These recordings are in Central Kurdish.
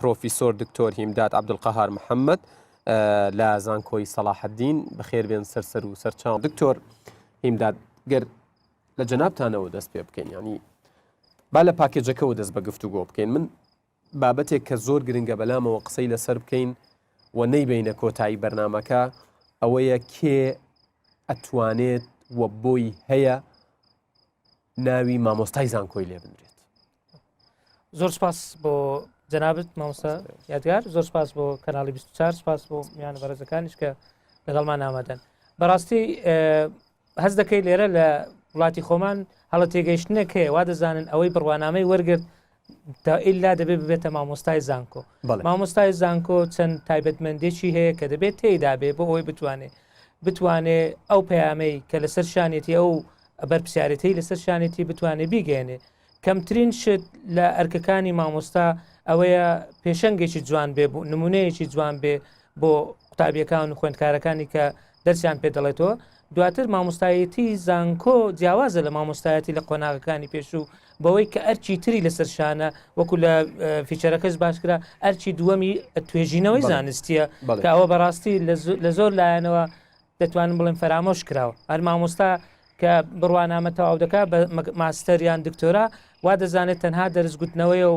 پرۆفیسۆر دکتۆر هیمداد عبدقهار محەممەد لە زانکۆی سەلاحدین بەخێر بێن سەرسەر و سەرچاو دکتۆر هیمداد گەر لە جەنابتانەوە دەست پێ بکەین ینی با لە پاکێجەکەەوە دەست بە گفتوگۆ بکەین من بابەتێک کە زۆر گرنگە بەلامەوە قسەی لەسەر بکەین و نەیبەینە کۆتایی بەرنامەکە ئەوەیە کێ ئەتوانێت و بۆی هەیە ناوی مامۆستای زانکۆی لێ بنرێت زۆر سپاس بۆ جەنابەت مامۆستا یادگار زۆر سپاس بۆ کەناڵی 24 سپاس بۆ میان بەرزەکانیش کە لەگەڵمان نامادەن بەڕاستی هەز دەکەی لێرە لە وڵاتی خۆمان هەڵە تێگەیشتنێک هەیە وا دەزانن ئەوەی بڕوانامەی وەرگرت تا ئللا دەبێت ببێتە مامۆستای زانکۆ مامۆستای زانکۆ چەند تایبەتمەندێکی هەیە کە دەبێت تێیدا بێ بۆ ئەوی بتوانێت بتوانێ ئەو پەیامەی کە لەسەر شانێتی ئەو بەرپسیارەتی لەسەر شانێتی بتوانێت بیگەێنێ کەمترین شت لە ئەرکەکانی مامۆستا ئەوەیە پێشەنگێکی جوان بێ بوو نمونەیەکی جوان بێ بۆ قوتابیەکان و خوێندکارەکانی کە دەرسیان پێ دەڵێتەوە، دواتر مامۆستایەتی زانکۆ جیاوازە لە مامۆستایەتی لە قۆناغەکانی پێشوو بەوەی کە ئەرچی تری لەسەر شانە وەکو لە فیچەرەکەش باشکرا ئەرچی دووەمی توێژینەوەی زانستیە کە ئەوە بەڕاستی لە زۆر لایەنەوە دەتوانم بڵێن فەرامۆش کراوە هەر مامۆستا کە بڕوانامە تەواو دەکات بە ماستەر یان دکتۆرا وا دەزانێت تەنها دەرزگوتنەوەیە و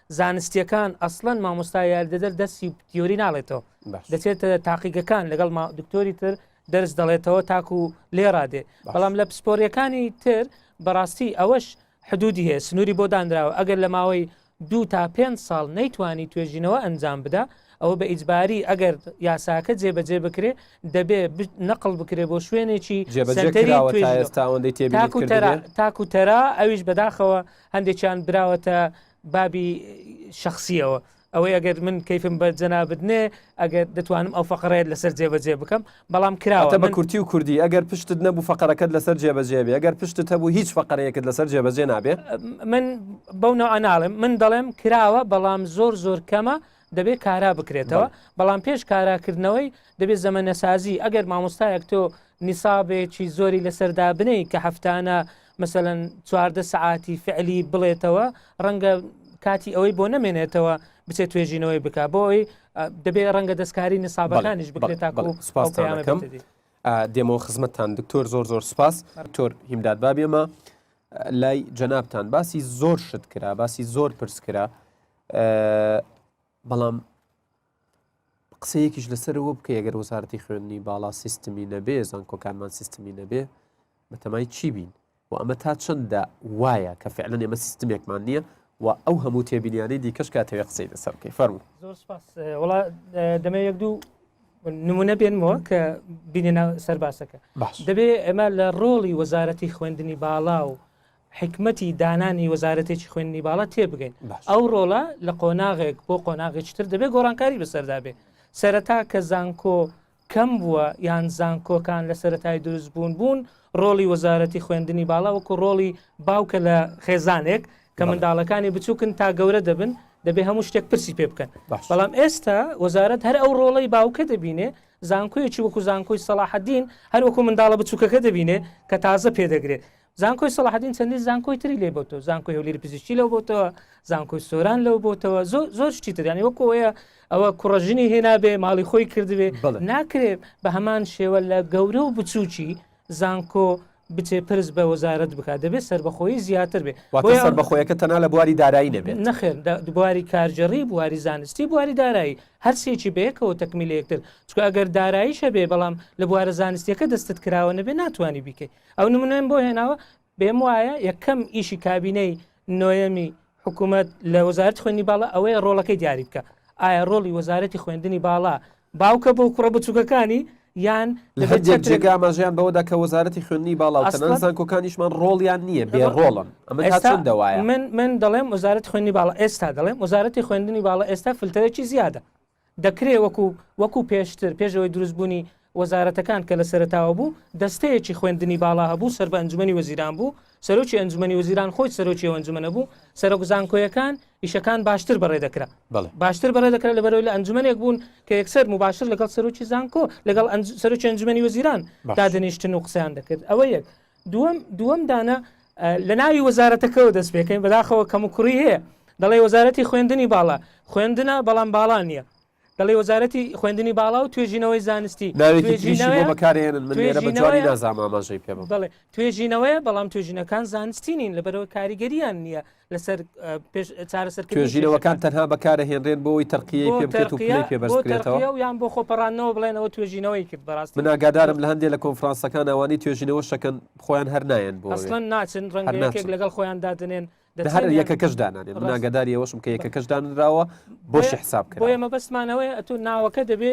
زانستیەکان ئەسڵەن مامۆستا یاریدەدەر دەرسی تیۆری ناڵێتەوە دەچێتە تاقیگەکان لەگەڵ دکتۆری تر دەرس دەڵێتەوە تاکو و لێڕادێ بەڵام لە پسپۆریەکانی تر بەڕاستی ئەوەش حدودی هەیە سنووری بۆ دانراوە ئەگەر لە ماوەی دوو تا پێ ساڵ نەیتوانی توێژینەوە ئەنجام بدا ئەوە بە ئیجباری ئەگەر یاساکە جێبەجێ بکرێ دەبێ نەقل بکرێ بۆ شوێنێکی تاکو تەرا ئەویش بەداخەوە هەندێکیان براوەتە بابی شخصیەوە ئەوەی ئەگەر من کەیفم بە جەنابت نێ ئەگەر دەتوانم ئەو فقڕێت لەسەر جێبەجێ بکەم بەڵام کراوە بە کورتی و کوردی ئەگەر پشتت نەبوو فقرەکەت لەسەر جێبەجێ بێ ئەگەر پشتت هەبوو هیچ فقرەیەکت لەسەر جێبەجێ نابێ من بەو ناو ئەناڵێم من دەڵێم کراوە بەڵام زۆر زۆر کەمە دەبێت کارا بکرێتەوە بەڵام پێش کاراکردنەوەی دەبێت زەمەنەسازی ئەگەر مامۆستایەک تۆ نیسابێکی زۆری لەسەردا بنەی کە هەفتانە مثلەن چواردە سعاتی فعلی بڵێتەوە ڕەنگە کاتی ئەوەی بۆ نەمێنێتەوە بچێت توێژینەوەی بک بۆ ئەوی دەبێت ڕەنگە دەستکاری نیسابەکانیش بکرێت تا سپاسەکەم دێمەوە خزمەتتان دکتۆر زۆر زۆر سپاس تۆر هیمداد بابێمە لای جەنابان باسی زۆر شت کرا باسی زۆر پرس کرا بەڵام قسەیەکیش لەسەرەوە بکە ئەگەر وەزارەتی خوێندنی باڵا سیستمی نەبێ زانکۆکانمان سیستمی نەبێ بەتەمای چی بین و ئەمە تا چەندە وایە کە فعلە ئێمە سیستمێکمان نییە و ئەو هەموو تێبینیانەی دیکەش کاتەوێ قسەی لەسەر بکەی فەرمو زۆر سپاس وڵا دەمە یەک دوو نمونە بێنمەوە کە بینێ سەرباسەکە دەبێ ئەمە لە ڕۆڵی وەزارەتی خوێندنی باڵا و حیکمەتی دانانی وەزارەتێکی خوێندنی باڵا تێبگەین ئەو ڕۆڵە لە قۆناغێک بۆ قۆناغێکی تر دەبێت گۆڕانکاری بەسەردا بێ سەرەتا کە زانکۆ کەم بووە یان زانکۆکان لە سەتای دروست بوون بوون ڕۆڵی وەزارەتی خوێندنی باڵا وەکو ڕۆڵی باوکە لە خێزانێک کە منداڵەکانی بچووکن تا گەورە دەبن دەبێ هەموو شتێک پرسی پێ بکەن بەڵام ئێستا وەزارت هەر ئەو ڕۆڵی باوکە دەبینێ زانکۆیەکی وەکو زانکۆی سەڵاحدین هەروەکو منداڵە بچووکەکە دەبینێ کە تازە پێدەگرێت زانکۆی سەڵاحەدین چەندین زانکۆی تری لێ بۆتەوە زانکۆی هەولێری پزیشکی لەو بۆتەوە زانکۆی سۆران لەو بۆتەوە زۆر زۆر شتی تریانی وەکۆیە ئەوە کوڕژنی هێنابێ ماڵی خۆی کردبێ ناکرێت بە هەمان شێوە لە گەورە و بچووکی زانکۆ بچێ پرس بە وەزارت بکات دەبێت سربەخۆی زیاتر بێ سربەخۆیەکە تەنا لە بواری دارایی نەبێت نەخێر بواری کارجێڕی بواری زانستی بواری دارایی هەرسێکی بەیەکەوە تەکمیل یەکتر چکە ئەگەر داراییشە بێ بەڵام لە بوارە زانستیەکە دەستت کراوە نەبێ ناتوانانی بیکەیت ئەو نمونەم بۆ هێناوە بێم وایە یەکەم ئیشی کابینەی نۆیەمی حکوومەت لە وەزارت خوێنی باڵە ئەوەیە ڕۆڵەکەی دیاری بکە ئایا ڕۆڵی وەزارەتی خوێندنی باڵا باوکە بۆ کوڕە بچووکەکانی یان لە هەندێک جێگا ماژیان بەوەدا کە وەزارەتی خوێنی باڵاوسان کۆکانیشمان ڕۆڵیان نییە بێ ڕۆڵن ئەمە چەند دەوایە من من دەڵێم وەزارەت خوێنی باڵ ئێستا دەڵێم وەزارەتی خوێندنی باڵە ئێستا فلتەرێکی زیادە دەکرێ وەکو وەکو پێشتر پێش ئەوەی دروست بوونی وەزارەتەکان کە لە سەرەتاوە بوو دەستەیەکی خوێندنی باڵا هەبوو سەر بە ئەنجومەنی وەزیران بوو سەرۆکی ئەنجومەنی وەزیران خۆی سەرۆکی ئەو ئەنجومەنە بوو سەرۆک زانکۆیەکان ئیشەکان باشتر بەڕێ دەکرا بەڵێ باشتر بەڕێ دەکرا لە بەرەوەی لە ئەنجومەنێک بوون کە یەکسەر مباشر لەگەڵ سەرۆکی زانکۆ لەگەڵ ئەنج... سەرۆکی ئەنجومەنی وەزیران باشە. دادەنیشتن و قسەیان دەکرد ئەوە یەک دووەم دووەم دانە لە ناوی وەزارەتەکەەوە دەست پێکەین بەداخەوە کەم و کوڕی هەیە دەڵێ وەزارەتی خوێندنی باڵا خوێندنە بەڵام باڵا نییە دەڵێ وەزارەتی خوێندنی باڵا و توێژینەوەی زانستی توێژینەوەیە بەڵام توێژینەکان زانستی نین لەبەرەوە کاریگەریان نییە لەسەر چارەسەرکردژیرەوەکان تەنها بەکارە هێنرێن بۆی تەرقیە پێ بکرێت و پێ پێ بەستکرێتەوە یان بۆ خۆپەڕانەوە بڵێن ئەوە توێژینەوەی کرد بەڕاست من ئاگادارم لە هەندێک لە کۆنفرانسەکان ئەوانی توێژینەوە شەکەن خۆیان هەر نایەن بۆ ئەسڵەن ناچن ڕەنگەکێک لەگەڵ خۆیان دادنێن هەر یەکە کەش دانانێن مناگەداری ئەوەشم کە یەکە کەش دانراوە بۆش حساب کرد ئێمە بەستمانەوەی ئەتو ناوەکە دەبێ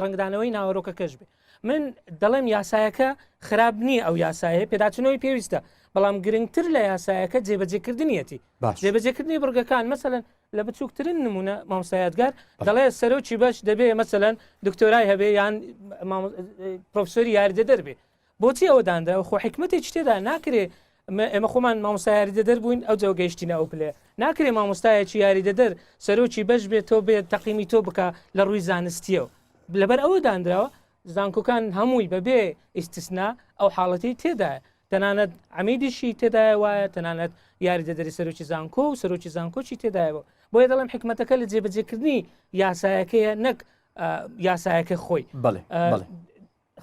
ڕنگدانەوەی ناوەرۆکە کەش بێ من دەڵێم یاسایەکە خراپ نییە ئەو یاسایە پێداچنەوەی پێویستە بەڵام گرنگتر لە یاسایەکە جێبەجێکردنیەتی جێبەجێکردنی بڕگەکان مەسەن لە بچووکترین نمونە مامسایەتگار دەڵێ سەرۆکی بەش دەبێ مەسەن دکتۆرای هەبێ یان پرۆفسۆری یاردە دەربێ بۆچی ئەوە دانرا خۆ حکمەتی شتێدا ناکرێ ئێمە خۆمان مامۆستا یاریدەدەر بووین ئەوجا گەیشتینە ئەو پلەیە. ناکرێ مامۆستایەکی یاریدەدەر سەرۆکی بەش بێت تۆ بێت تەقیمی تۆ بکا لە ڕووی زانستییەوە. لەبەر ئەوە دانراوە زانکۆکان هەمووی بەبێ ئیستسنا ئەو حاڵەتەی تێدایە. تەنانەت عەمیدیشی تێدایە وایە، تەنانەت یاریدەدەری سەرۆکی زانکۆ و سەرۆکی زانکۆشی تێدایەوە. بۆیە دەڵێم حیکمەتەکە لە جێبەجێکردنی یاسایەکەیە نەک یاسایەکە خۆی. بەڵێ بەڵێ.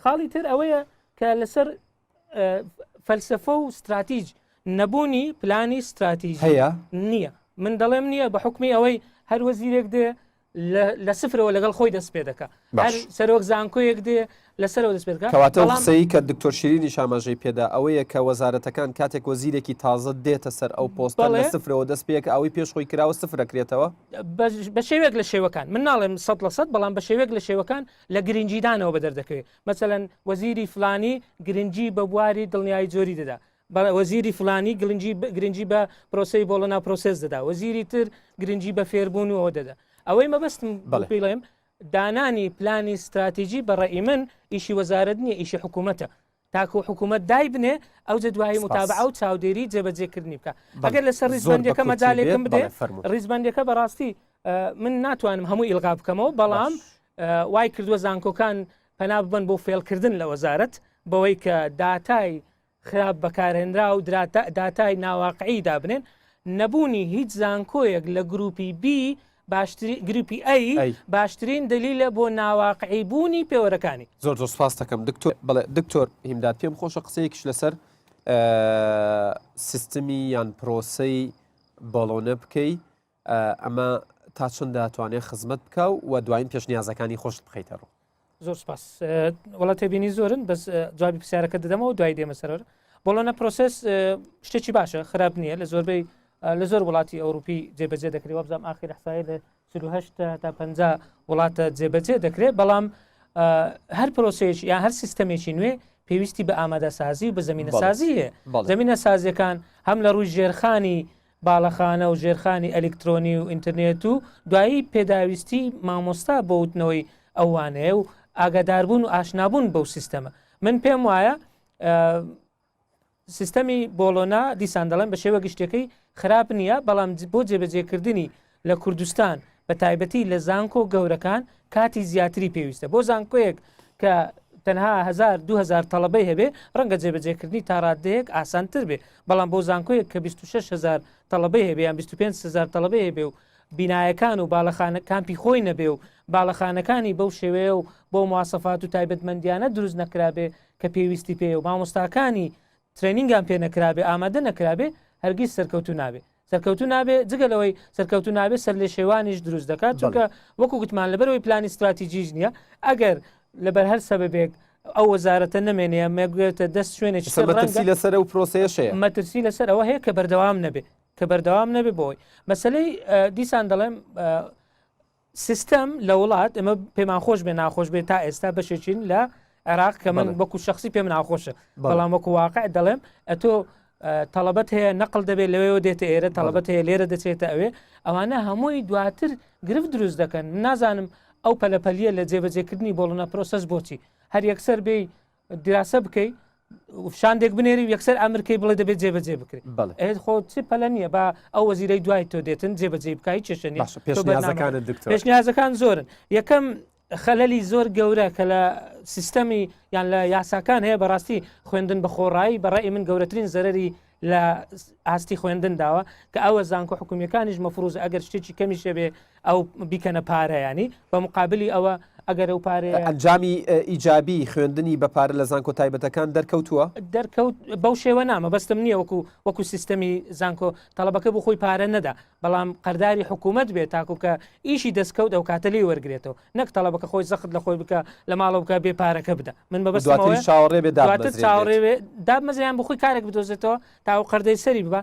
خاڵی تر ئەوەیە کە لەسەر فەلسفە و استراتیج نەبوونی پلانی استراتیژ هەیە نییە من دەڵێم نییە بە حکومی ئەوەی هەر وەزیرێک دێ لە سفرەوە لەگەڵ خۆی دەست پێ دەکە سەرۆک زانکۆیەک دێ لەسەرەوە دەست پێ کەواتە قسەی کە دکتۆر شیرینی شاماژەی پێدا ئەوەیە کە وەزارەتەکان کاتێک وەزیرێکی تازە دێتە سەر ئەو پۆست لە سفرەوە دەست پێک ئەوەی پێش خۆی کراوە سفرەکرێتەوە بە شێوێک لە شێوەکان من ناڵێم سە لە سەد بەڵام بە شێوێک لە شێوەکان لە گرنگیدانەوە بە دەردەکەوێت مەسەەن وەزیری فلانی گرنگی بە بواری دڵنیایی جۆری دەدا وەزیری فلانی گلنجی گرنگی بە پرۆسی بۆڵە ناپرۆسس دەدا وەزیری تر گرنگی بە فێربوون و ئەو دەدا ئەوەی مەبەستم بڵێم دانانی پلانی استراتیژی بەڕێ من ئیشی وەزارت نیە ئیشی حکوومەتە تاکو حکومەت دایبنێ ئەوجە دوایی متابعە و چاودێری جێبەجێکردنی بکە ئەگەر لەسەر ریزبندەکە مەجالێکم بدێ ریزبندەکە بەڕاستی من ناتوانم هەموو ئیلغا بکەمەوە بەڵام وای کردووە زانکۆکان پەنا ببن بۆ فێڵکردن لە وەزارت بەوەی کە داتای خراپ بەکارهێنرا و داتای ناواقعی دابنێن نەبوونی هیچ زانکۆیەک لە گروپی بی باشترین، گروپی ئەی، باشترین دەلیلە بۆ ناواقعی بوونی پێوەرەکانی. زۆر زۆر سپاستەکەم دکتۆر. بەڵێ دکتۆر هیمداد پێم خۆشە قسەیەکیش لەسەر سیستمی یان پرۆسەی بۆڵۆنە بکەی ئەمە تا چەند دەتوانێت خزمەت بکە و دوایین پێشنیازەکانی خۆشت بخیتە ڕوو. زۆر سپاس وڵات تێبینی زۆرن بەس جوابی پرسیارەکە دەدەمەوە دوای دێمە سەرەر بۆڵۆنە پرۆسس شتێکی باشە خراپ نییە لە زۆربەی لە زۆر وڵاتی ئەوروپی جێبەجێ دەکری وەبزانام ئاخیر حسای لە 1970 تا 50 وڵاتە جێبەجێ دەکرێت بەڵام هەر پرۆسێک یا هەر سیستەمێکی نوێ پێویستی بە ئامادەسازی و بە زمینە سازیە زمینە سازیەکان هەم لە ڕووی ژێرخانی باڵەخانە و ژێرخانی ئەلیکترۆنی و ئینترنێت و دوایی پێداویستی مامۆستا بۆ وتنەوەی ئەو وانەیە و ئاگاداربوون و ئاشنابوون بەو سیستەمە من پێم وایە سیستەمی بۆڵۆنا دیسان دەڵێن بە شێوە گشتەکەی خراپ نییە بەڵام بۆ جێبەجێکردنی لە کوردستان بە تایبەتی لە زانکۆ گەورەکان کاتی زیاتری پێویستە بۆ زانکۆیەک کە تەنها هزار دو هزار تەڵەبەی هەبێ ڕەنگە جێبەجێکردنی تاڕادەیەک ئاسانتر بێ بەڵام بۆ زانکۆیەک کە 26 هزار تەڵەبەی هەبێ یان 25 هزار تەڵەبەی هەبێ و بینایەکان و باڵەخانە کامپی خۆی نەبێ و باڵەخانەکانی بەو شێوەیە و بۆ موواسەفات و تایبەتمەندیانە دروست نەکرابێ کە پێویستی پێ و مامۆستاکانی ترەینینگان پێ نەکرابێ ئامادە نەکرابێ هەرگیز سەرکەوتوو نابێ سەرکەوتوو نابێ جگە لەوەی سەرکەوتوو نابێ سەر لێ شێوانیش دروست دەکات چونکە وەکو گوتمان لەبەرەوەی پلانی ستراتیجیش نییە ئەگەر لەبەر هەر سەبەبێک ئەو وەزارەتە نمێنەیە مێگوێتە دەست شوێنێک سەرڕەنگی لەسەر و پرۆسەیەشەیە مەترسی لەسەر ئەوە هەیە کە بەردەوام نەبێ کە بەردەوام نەبێ بۆی مەسلەی دیسان دەڵێم سیستەم لە وڵات ئمە پێمان خۆش بێ ناخۆش بێ تا ئێستا بەشێکین لە عێراق کە من وەکو شخصی پێم ناخۆشە بەڵام وەکو واقع دەڵێم ئەتۆ تەڵبەت هەیە نەقل دەبێت لەوەوە دێتە ئێرە تەڵبەت هەیە لێرە دەچێتە ئەوێ ئەوانە هەمووی دواتر گرفت دروست دەکەن نازانم ئەو پەلەپەلیە لە جێبەجێکردنی بۆڵنە پرۆسەس بۆچی هەر یەکسەر بێ دراسە بکەی شاندێک بنێری یەکسەر ئەمرکەی بڵێ دەبێت جێبەجێ بکرێت ئەێت خۆ چ پەلە نییە با ئەو وەزیرەی دوای تۆ دێتن جێبەجێ بکای چێشنی پێشنیازەکان زۆرن یەکەم خەلەلی زۆر گەورە کە لە سیستەمی یان لە یاساکان هەیە بەڕاستی خوێندن بە خۆڕایی بەڕێ من گەورەترین زەرری لە ئاستی خوێندن داوە کە ئەوە زانکۆ حکومیەکانیش مەفروز ئەگەر شتێکی کەمیش هەبێ ئەو بیکەنە پارەیانی بە مقابلی ئەوە ئەگەر ئەو پارێ ئەنجامی ئیجابی خوێندنی بە پارە لە زانکۆ تایبەتەکان دەرکەوتووە دەرکەوت بەو شێوە نامە بەستم نییە وەکو وەکو سیستەمی زانکۆ تەڵەبەکە بۆ خۆی پارە نەدا بەڵام قەرداری حکوومەت بێت تاکوو کە ئیشی دەستکەوت ئەو کاتە لێی وەرگێتەوە نەک تەڵەبەکە خۆی زەخت لە خۆی بکە لە ماڵە بکە بێ پارەکە بدە من بە بەستەوە چاوەڕێ بێ دواتر چاوەڕێ بێ دابمەزیان بخۆی کارێک بدۆزێتەوە تاو قەردەی سەری ببە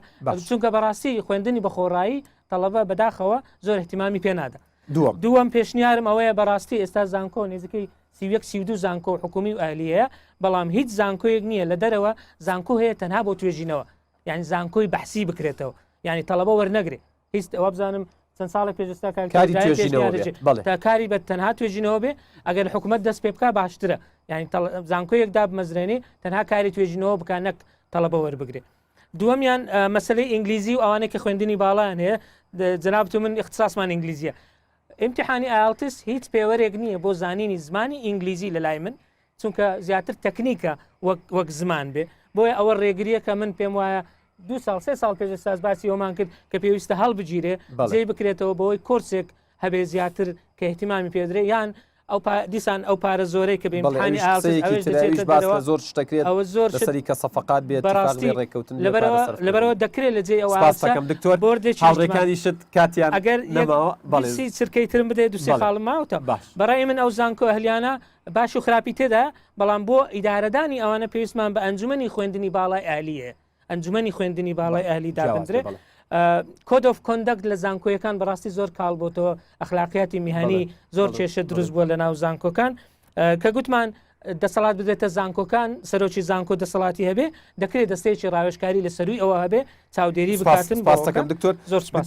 چونکە بەڕاستی خوێندنی بە خۆڕایی تەڵەبە بەداخەوە زۆر احتیمامی پێنادا دووەم دووەم پێشنیارم ئەوەیە بەڕاستی ئێستا زانکۆ نێزیکەی سیوەک سیودو زانکۆ حکومی و ئەلیەیە بەڵام هیچ زانکۆیەک نییە لە دەرەوە زانکۆ هەیە تەنها بۆ توێژینەوە یعنی زانکۆی بەحسی بکرێتەوە یعنی تەڵەبە وەرنەگرێ هیچ ئەوە بزانم چەند ساڵە پێشستا کاری بە تەنها توێژینەوە بێ ئەگەر حکوومەت دەست پێ بکە باشترە یعنی زانکۆیەک داب مەزرێنی تەنها کاری توێژینەوە بکە نەک تەڵەبە وەربگرێ دووەمیان مەسلەی ئینگلیزی و ئەوانە کە خوێندنی باڵیان هەیە جناب تو من اختصاصمان ئینگلیزیە امتحانی ئالتس هیچ پێوەرێک نییە بۆ زانینی زمانی ئینگلیزی لە لای من چونکە زیاتر تەکنیکە وەک زمان بێ بۆیە ئەوە ڕێگریە کە من پێم وایە دو سال سێ سال پێش ساز باسی ئەومان کرد کە پێویستە هەڵبگیرێ بەڵێ بکرێتەوە بەوەی کۆرسێک هەبێ زیاتر کە احتیمامی پێدرێ یان ئەو دیسان ئەو پارە زۆرەی کە بێمحانی ئاوێژ زۆر شتەکرێت ئەوە زۆر سەری کە سەفقات بێت بەڕاستی ڕێککەوتن لەبەرەوە دەکرێت لە جێ ئەوەکەم دکتۆر بۆردێکڕێکانی شت کاتیان ئەگەر بەڵێسی چرکەی ترم بدەێت دوسێ خاڵم ماوتە باش بەڕای من ئەو زانکۆ هەلیانە باش و خراپی تێدا، بەڵام بۆ ئیدارەدانی ئەوانە پێویستمان بە ئەنجومەنی خوێندنی باڵای ئەهلیە ئەنجومەنی خوێندنی باڵای ئەهلی دابدرێ کۆدۆف کۆندەکت لە زانکۆیەکان بەڕاستی زۆر کاڵ بۆ تۆ ئەخلاقیاتی میهانی زۆر کێشە دروست بووە لە ناو زانکۆکان کە گوتمان دەسەڵات بدێتە زانکۆکان سەرۆکی زانکۆ دەسەڵاتی هەبێ دەکرێت دەستەیەکی ڕاوێشکاری لە سەروی ئەوە هەبێ چاودێری بکاتن سپاس دەکەم دکتۆر زۆر سپاس.